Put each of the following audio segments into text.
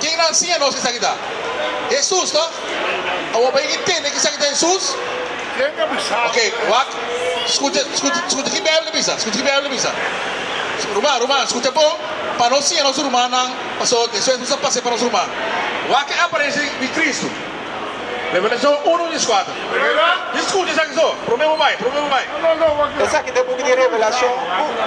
Ken a enseña nos esaki ta Hesus, toch? Awor pa yega tende ke esaki ta Hesus. Ok, wak. Skucha, skucha, skucha ke Beibel a bisa, skucha ke Beibel a bisa. Ruman, ruman, skucha bon, pa no siña nos rumannan paso eso Hesus a pase pa nos ruman. Wak e aparenshi di Kristu, Revelashon uno dies kuater. Mi skucha esaki so, promé bo bai, promé bo bai. Esaki ta buki di Revelashon uno.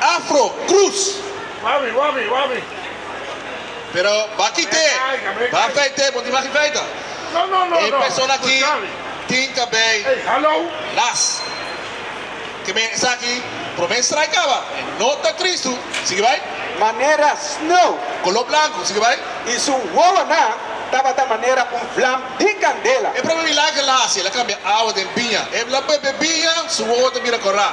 Afro, Cruz. Wabi, wabi, wabi. Pero ba kite, ba feite, bo tin mas di feita. No, no, no, no. E persona aki tin cabei ras. Ke men esaki, prome strai caba, e no ta Cristo, sigui bai. Manera snow. Color blanco, sigui bai. I su wowonan tabata manera un vlam di candela. E prome milagre el a haci, el a cambia awa den biña. E bla bebe biña, su wowo ta bira cora.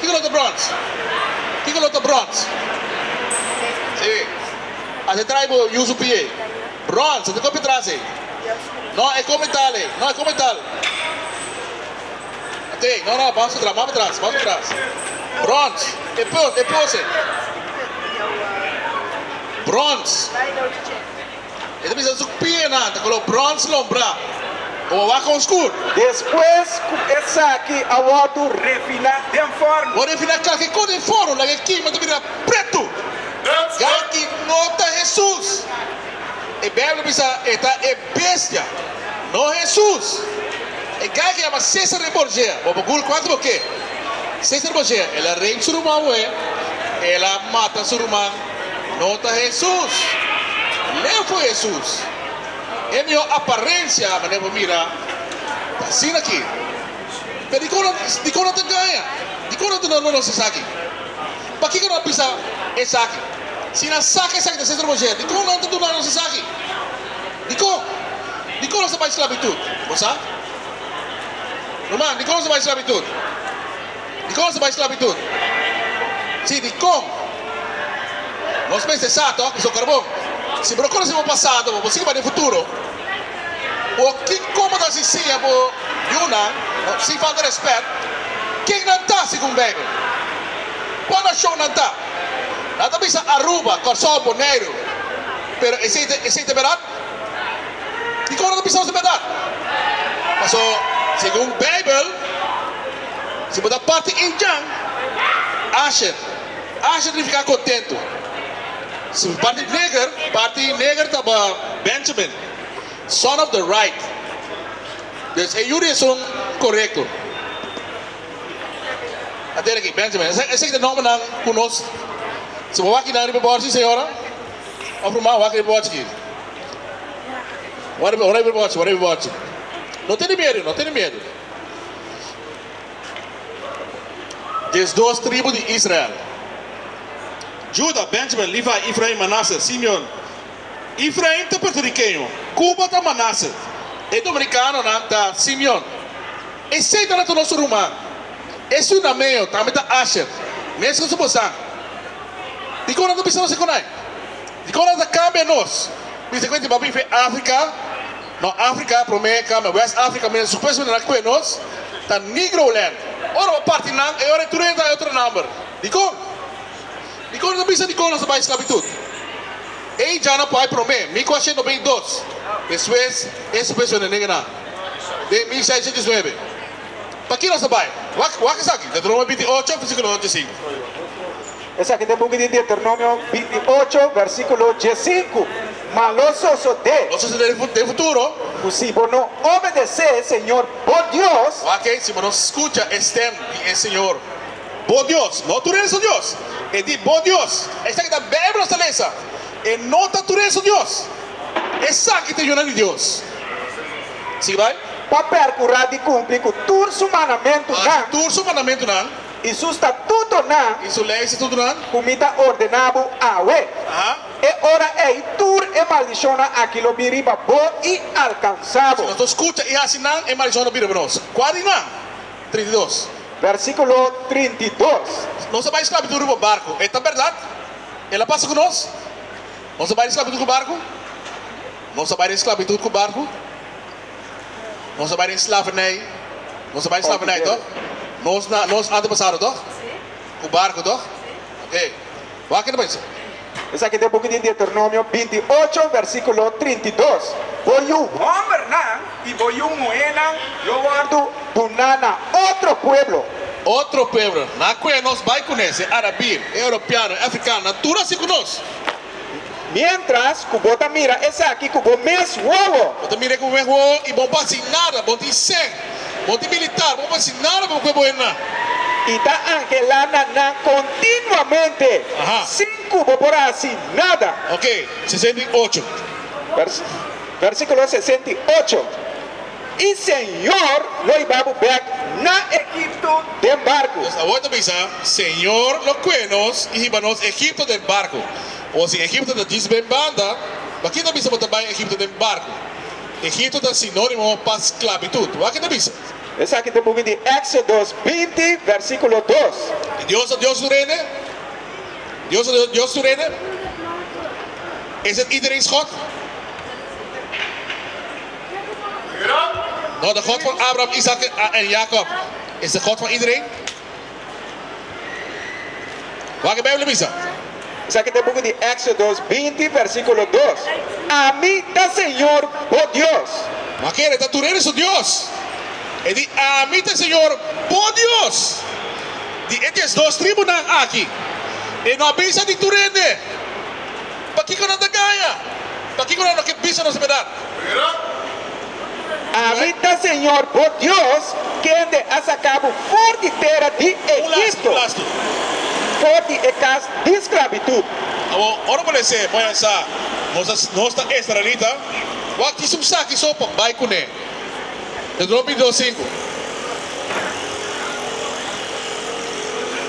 Kiko lo ta bròns? Kiko lo ta bròns? Sí. A si trai bo yusu pie. Bròns, a ta kopi tras ei. No, e kon metal ei. No, e kon metal. Ok, no, no, bos pa tras, bos pa tras, bos pa tras. Bròns, e pos, e pos ei. Bròns. E ta bisa su pienan ta kolor brons lombra o wawa kon skur. Despues ku esaki a wòrdu refiná den forno. Wòrdu refiná kalkiko den forno, laga e kima ta bira pretu. Yaki no ta Hesus. E Beibel a bisa e ta e bestia, no Hesus. E gay ku yama Cesare Borgia, bo por gul kuantu bo ke. Cesare Borgia, el a rep su ruman wè, el a mata su ruman. No ta Hesus! Lei fu Hesus! E mihó aparensia, manera bo mira, ta asina aki. Pero dikon nan, dikon nan ta gaña? Dikon nan ta duna nos esaki? Pakiko nan a bisa esaki? Si nan saka esaki den sentro boyer, dikon nan ta duna nos esaki? Dikon? Dikon nos ta bai sklabitut? Bo sa? Ruman, dikon nos ta bai sklabitut? Dikon su bai sklabitut? Si dikon? Nos mester sa tok ku so karbon. Si bo ta konosé bo pasado, bo por sigui bai den futuro. O kiko bo ta hasi siña bo yunan, sin falta rèspèt, ken nan ta segun Beibel? Kon nashon nan ta? Nan ta bisa Aruba, Kòrsou, Boneiru. Pero esei ta bèrdat? Dikon nan ta bisa nos ta bèrdat? Pasobra segun Beibel. Si bo ta parti in djan, asher, asher significa contento. Si bo parti neger, parti neger taba Benjamin, son of the right. Des e yuri esun corecto. A teri aki, Benjamin. Esaki ta e nombernan cu nos, si bo wak nan riba e bordje, señora of ruman, wak riba e bordje aki. Wak riba e bordje, wak riba e bordje. No tene miedu, no tene miedu. Des dos tribu di Israel, Juda, Benjamin, Levi, Efrain, Manase, Simeon. Efrain ta puertoriqueño, Cuba ta Manase, e dominicanonan ta Simeon. Esey ta natu nos ruman. E ciuna meo tambe ta Asher, mescos cu bosan. Dicon a ta bisa nos e conai? Dicon a ta cambia nos? Bisa cu e tin ba biba Africa Ma Africa prome cambia West Africa mira su presidente na cue nos ta Negroland. Ora bo parti nan e ora e turenta e otro number. Dicon? Dicon nos a bisa dicon nos a bay esclavitud? Ey djana por ay prome, mi cu a shendo bay dos. Despues e su presidente negue nan den mil seiscientos diesnuebe. Paki nos a bay? Wak esaki? Deuteronomio binti ocho versiculo dos dje sinku. Esaki ta e buki di Deuteronomio binti ocho, versíkulo diesinku, Ma lo sosodé. Lo sosodé den futuro. Ku si bo no obedesé Señor bo Dios. Wak-ei, si bo no skucha e stem di e Señor bo Dios, no tur e su Dios, e di bo Dios. Esaki ta Beibel nos ta lesa. E no ta tur e su Dios. Esaki ta e yuna di Dios. Sigui bai. Pa perkurá di kumpli ku tur su mandamentunan. Hasi tur su mandamentunan. i su statutonan. I su lei statutonan. Ku mi ta ordená bo awe. E ora ei tur e maldishonnan aki lo bin riba bo i alkansá bo. Si nos skucha i hasi nan, e maldishonnan lo bin riba nos. Kua di nan? Trinta i dos. Versíkulo trinta i dos. Nos a bai di sklabitud riba un barku. E ta bèrdat? El a pasa ku nos? Nos a bai di sklabitud ku barku? Nos a bai di sklabitud ku barku. Nos a bai den slavernij, nos a bai slavernij toch? Nos na nos antepasado toch? Cu barco toch? Ok. Wak ta bisa. Esaki ta e buki di Deuteronomio binti ocho versiculo trinta i dos, Bo yu hombernan i bo yu muhernan lo wordo duna na otro pueblo. Otro pueblo, na cue nos bai cunesi, arabir, europeano, africano, nan tur a haci cu nos. Miéntras ku bo ta mira esaki ku bo mes wowo. Bo ta mira e ku bo mes wowo i bo bo hasi nada. Bo tin sèn. Bo tin militar. Bo no por hasi nada pa bo kuer bo hende nan. I ta anhelá na nan kontinuamente sin ku bo por hasi nada. Oke, sesenta i ocho. Vèrsíkulo sesenta i ocho. I Señor lo iba bo bek na Egipto den barku. Nos awor ta bisa, Señor lo kue nos i hiba nos Egipto den barku. Bo si Egipto ta djis ben banda, bakit ta bisa bo ta bai Egipto den barku? Egipto ta sinónimo pa sklabitut. Wak e ta bisa. Esaki ta buki di Éxodos binti vèrsikulo dos. E Dios ta Dios su Rene? Dios ta Dios su Rene? Is het iedereen's God? No, de God van Abraham, Isaac en Jacob is de God van iedereen. Wak e Bijbel a bisa. Esaki ta buki di Exodos binti versiculo dos, Ami ta Señor bo Dios. Ma kere ta tur ene su Dios. E di, Ami ta Señor bo Dios. Di e dies dos tribunan aki, e no a bisa di tur ende. Pakiko nan ta gaña? Pakiko nan no ke bisa nos bedat? Ami ta Señor bo Dios, kende a saka bo for di tera di Egipto, for di e kas di sklabitut. Awor, ora bo nesé, bo a yam sa nos ta israelita. Bo a kisa un saki so pa bai kuné. Ta drop i dos sinku.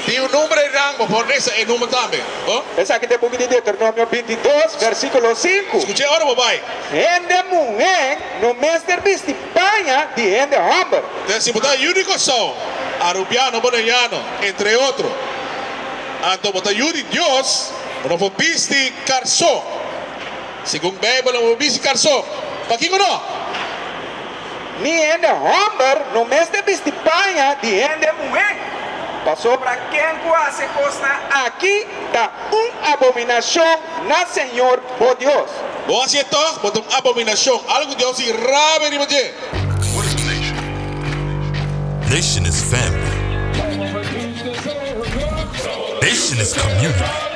Tin un number e rango for nesa e number tambe. Bo. Esaki ta e buki di Deuteronomio bintidos, versikulo sinku. Skuch'é ora bo bai. Hende muhé no mester bisti paña di hende hòmber. Te si bo ta yudi kòrsou, arubiano boneiano, entre otro, anto bo ta yudi Dios, bo no por bisti karsó. Segun Beibel lo bo bisti karso. Pakico no? Ni hende homber no mester bisti paña di hende muhé, pasobra ken cu haci cosnan aki ta un abominacion na Señor bo Dios. Bo haci e tog, bo ta un abominacion, algo cu Dios di rabia riba dje. Nation is family. Nation is community.